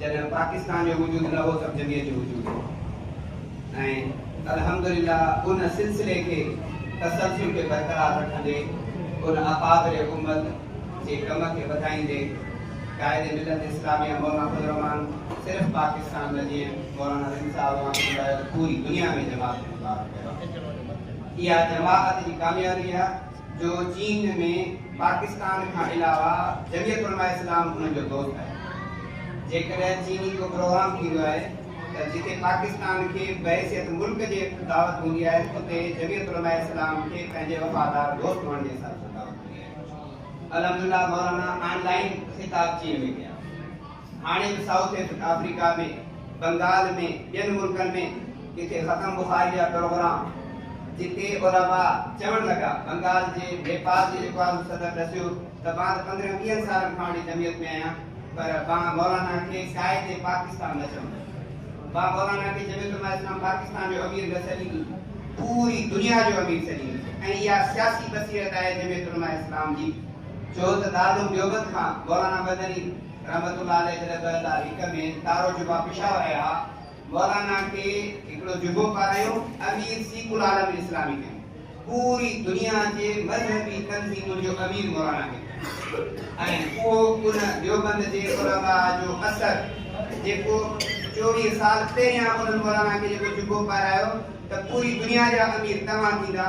جڏهن پاڪستان جو وجود نه هو سڀ جمعيت جو وجود هو ۽ الحمدلله ان سلسلي کي تسلسل کي برقرار رکندي ان اڪابر امت جي ڪم کي وڌائيندي قائد ملت اسلاميه مولانا فضل الرحمان صرف پاڪستان نه جيئن مولانا رند صاحب اوهان کي ٻڌايو ته پوري دنيا ۾ جماعت مبارڪ ڪيو آهي اها جماعت جي ڪاميابي آهي. جو چين ۾ پاڪستان کان علاوه جمعيت علماء اسلام انهن جو دوست آهي. جيڪڏهن چيني ڪو پروگرام ٿيندو آهي ته جتي پاڪستان کي بحيثيت ملڪ جي دعوت هوندي آهي اتي جمعيت علماء اسلام کي پنهنجي وفادار دوست هئڻ جي حساب سان دعوت هوندي آهي. الحمدلله مولانا آن لائين خطاب چين ۾ ڪيا. هاڻي ته سائوٿ آفريڪا ۾ بنگال ۾ ٻين ملڪن ۾ ڪٿي ختم بخاري جا پروگرام جي ڪي علماء چوڻ لڳا بنگال جي نيپال جي جيڪو اعظم صدر ڏسيو ته مان ته پندرهن ويهن سالن کان وٺي جمعيت ۾ آهيان پر مان مولانا کي قائد پاڪستان نه چوندس مان مولانا کي جميعت علماء اسلام پاڪستان جو امير نه سڏيندس پوري دنيا جو امير سڏيندس ۽ اها سياسي بصيرت آهي جميعت علماء اسلام جي ڇو ته دارالعلوم ديوبند کان مولانا مدني رحمت الله عليه جڏهن ٻه هزار هڪ ۾ تارو جبا پشاور آيا ها، مولانا کي هڪڙو جبو پارايو، امير سيڪ العالم اسلامي ڪيائون. پوري دنيا جي مذهبي تنظيمن جو امير مولانا کي ڪيائون ۽ اهو ان ديوبند جي علماء جو اثر جيڪو چوويهه سال پهريان انهن مولانا کي جيڪو جبو پارايو ته پوري دنيا جا امير تنوع ٿيندا،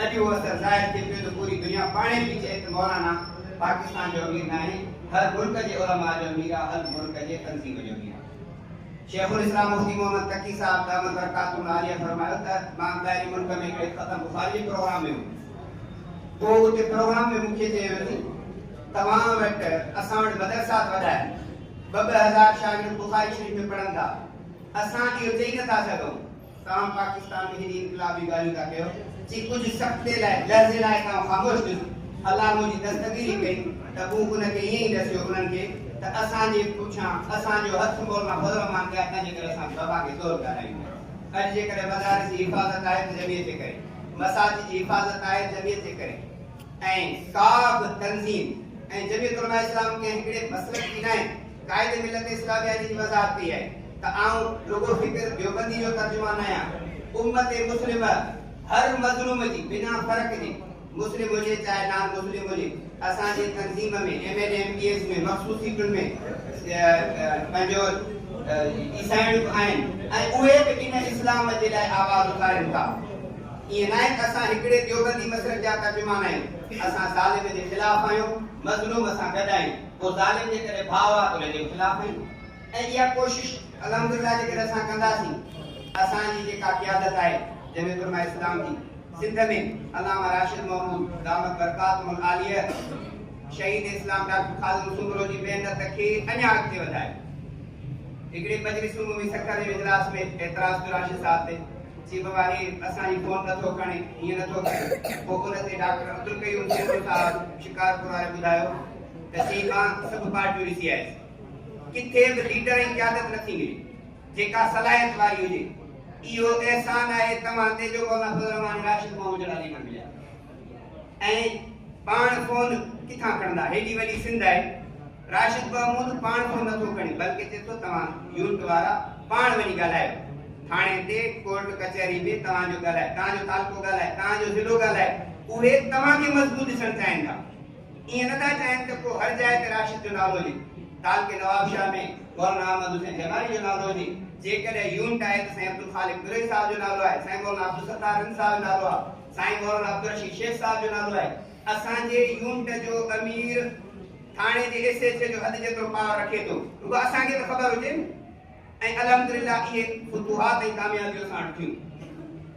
اڄ اهو اثر ظاهر ٿئي پيو ته پوري دنيا پاڻهي پئي چئي ته مولانا. پاڪستان جو امير ناهي، هر ملڪ جي علماء جو امير آ، هر ملڪ جي تنظيم جو امير آ. شيخ الاسلام مفتي محمد تقي صاحب دامت برڪاته العاليه فرمايو ته مان ٻاهرين ملڪ ۾ هڪڙي فتح بخاري جي پروگرام ۾ هيس، پوء اتي پروگرام ۾ مون کي چيو ويو ته توهان وٽ اسان وٽ مدرسات وڏا آهن، ٻه ٻه هزار شاگرد بخاري شريف ۾ پڙهن ٿا، اسان اهو چئي نٿا سگهون. تان پاڪستان ۾ هيڏي انقلابي ڳالهيون ٿا ڪيو جي ڪجهه سڪنڊي لاء لحظي لاء تان خاموش ٿيس الله منهنجي دستگيري ڪئي ته مون ان کي ائين ئي ڏسيو انهن کي ته اسان جي پٺيان اسان جو هٿ مولانا فضل الرحمان ڏيا تنهن جي ڪري اسان کي وبا کي زور ڳالهايون پيا اڄ جيڪڏهن مدارس جي حفاظت آهي ته جمعيت جي ڪري مساجد جي حفاظت آهي جمعيت جي ڪري ۽ ڪا به تنظيم ۽ جمعيت علماء اسلام ڪنهن هڪڙي مسلڪ جي ناهي. قائد ملت اسلاميه جي وضاحت ڪئي آهي ته آئون رڳو فڪر ديوبندي جو ترجمان آهيان، امت مسلمه هر مظلوم جي بنا فرق جي مسلم هجي چاهي نان مسلم هجي اسان جي تنظيم ۾ M N A M P As ۾ مخصوص سيٽن ۾ پنهنجو عيسائڻ به آهن ۽ اهي به ان اسلام جي لاء آواز اٿارين ٿا ائين ناهي ته اسان هڪڙي ديوبندي مسلڪ جا ترجمان آهيون اسان ظالم جي خلاف آهيون مظلوم سان گڏ آهيون. ڪو ظالم جيڪڏهن ڀاء آ ته ان جي خلاف آهيون ۽ اها ڪوشش الحمدلله جيڪڏهن اسان ڪنداسين ته اسان جي جيڪا قيادت آهي جنهن ۾ علماء اسلام جي سنڌ ۾ علامه راشد محمود دامت برڪاتهم العاليه شهيد اسلام ڊاڪٽر خادم سومرو جي محنت کي اڃا اڳتي وڌائي هڪڙي مجلس عمومي سکر جي اجلاس ۾ اعتراض ڪيو راشد صاحب تي چي بابا هي اسان جي فون نٿو کڻي هيئن نٿو ڪري پوء ان تي ڊاڪٽر عبدالقيوم سومرو صاحب شڪارپور واري ٻڌايو ڪشي مان سڀ پارٽيون ڏسي آيس ڪٿي به ليڊر ۽ قيادت نٿي ملي جيڪا صلاحيت واري هجي اهو احسان آهي توهان تي جو مولانا فضل الرحمان راشد محمد جهڙا ليڊر مليا ۽ پاڻ فون ڪٿان کڻندا هيڏي وڏي سنڌ آهي راشد محمود پاڻ فون نٿو کڻي بلڪه چئي ٿو توهان يونٽ وارا پاڻ وڃي ڳالهايو ٿاڻي تي ڪورٽ ڪچهري ۾ توهان جو ڳالهائي توهان جو تعلقو ڳالهائي توهان جو ضلعو ڳالهائي اهي توهان کي مضبوط ڏسڻ چاهين ٿا ائين نه ٿا چاهين ته ڪو هر جاء تي راشد جو نالو هجي. تعلقي نوابشاهه ۾ مولانا احمد حسين جمالي جو نالو هجي، جيڪڏهن يونٽ آهي ته سائين عبدالخالق دريء صاحب جو نالو آهي، سائين مولانا عبدالستار رند صاحب جو نالو آهي، سائين مولانا عبدالرشيد شيخ صاحب جو نالو آهي. اسان جي يونٽ جو امير ٿاڻي جي ايس ايڇ اي جو حد جيترو پاور رکي ٿو، رڳو اسان کي ته خبر هجي نه. ۽ الحمدلله اهي فتوحات ۽ ڪاميابيون اسان وٽ ٿيون.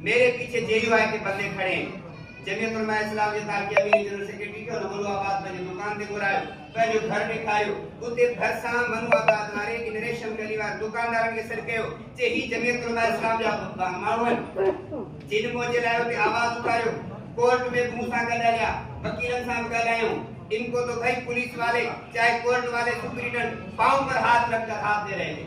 ميري پيڇي جي يو آء کي بدلي کڻي جميعت علماء اسلام جي تارڪي امين ۽ جنرل سيڪريٽري کي ان ملو آباد پنهنجي دڪان تي گهرايو، پنهنجو گهر ڏيکاريو، اتي ڀرسان منو آباد واري ان ريشم گلي وارن دڪاندارن کي سڏ ڪيو چي هي جميعت علماء اسلام جا ماڻهو آهن جن منهنجي لاء اتي آواز اٿاريو، ڪورٽ ۾ به مون سان گڏ هليا، وڪيلن سان به ڳالهايائون، ان ڪو تو ڀئي پوليس والي چاهي ڪورٽ والي سپريڊنٽ پائون پر هاٿ رک ڪر هاٿ ۾ رهي گئي.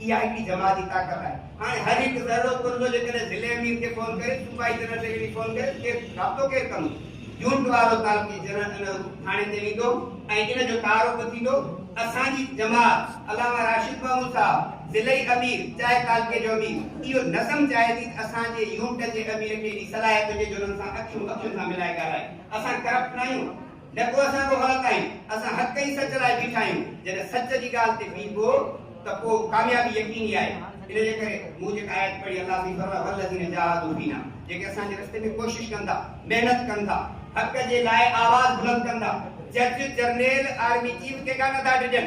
اها هڪڙي جماعتي طاقت آهي. هاڻي هر هڪ ذرو ڪربو جيڪڏهن ضلعي امير کي فون ڪري، صوبائي جنرل سيڪريٽري کي فون ڪري ته ڪير رابطو ڪير ڪندو؟ يونٽ وارو تعلقي جنرل ٿاڻي تي ويندو ۽ ان جو تعارف ٿيندو. اسان جي جماعت، علامه راشد محمود صاحب، ضلعي امير چاهي تعلقي جو امير، اهو نظم چاهي ٿي ته اسان جي يونٽ جي امير کي ايڏي صلاحيت هجي جو انهن سان اکيون اکين سان ملائي ڳالهائي. اسان ڪرپٽ ناهيون. نه ڪو اسان جو غلط آهين، اسان حق ۽ سچ لاء بيٺا آهيون، جڏهن سچ جي ڳالهه تي بيهبو ته پوء ڪاميابي يقيني آهي، ان جي ڪري مون جيڪا آيت پڙهي الله سائين فرمايو والذين جاهدوا فينا جيڪي اسان جي رستي ۾ ڪوشش ڪن ٿا، محنت ڪن ٿا، حق جي لاء آواز بلند ڪن ٿا، جج، جرنيل، آرمي چيف ڪيڏا نه ٿا ڊڄن.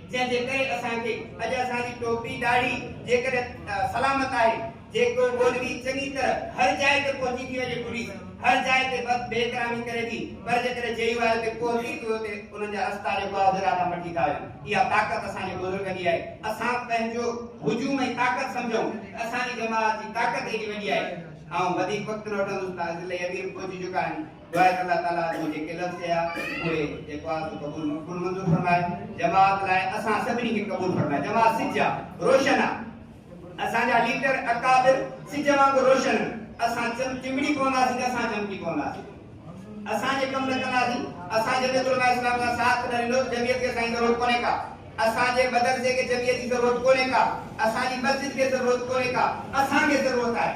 جنهن جي ڪري اسان کي اڄ اسان جي ٽوپي ڏاڙهي جيڪڏهن سلامت آهي، جيڪو مولوي چڱي طرح هر جاء تي پهچي ٿي وڃي پوليس هر جاء تي بد بي احترامي ڪري ٿي پر جيڪڏهن جي يو آء تي پهچي ٿي اتي انهن جا رستا جيڪو آهي اڌ ڏاڍا مٽي ٿا وڃن اها طاقت اسان جي بزرگن جي آهي اسان پنهنجو هجوم ۽ طاقت سمجهون ته اسان جي جماعت جي طاقت ايڏي وڏي آهي آئون وڌيڪ وقت نه وٺندس ته اڳلي امير پهچي چڪا آهن. دعائي الله تعالي جو جيڪي لفظ چيا اهي جيڪو آ سو قبول مقبول منظور فرمائي جماعت لاء اسان سڀني کي قبول فرمائي جماعت سج آ روشن آ اسان جا ليڊر اڪابر سج وانگر روشن اسان چم چمڙي پونداسين ته اسان چمڪي پونداسين اسان جي ڪم نه ڪنداسين اسان جميعت علماء اسلام کان ساٿ نه ڏنو جميعت کي اسان جي ضرورت ڪونهي ڪا اسان جي مدرسي کي جميعت جي ضرورت ڪونهي ڪا اسان جي مسجد کي ضرورت ڪونهي ڪا اسان کي ضرورت آهي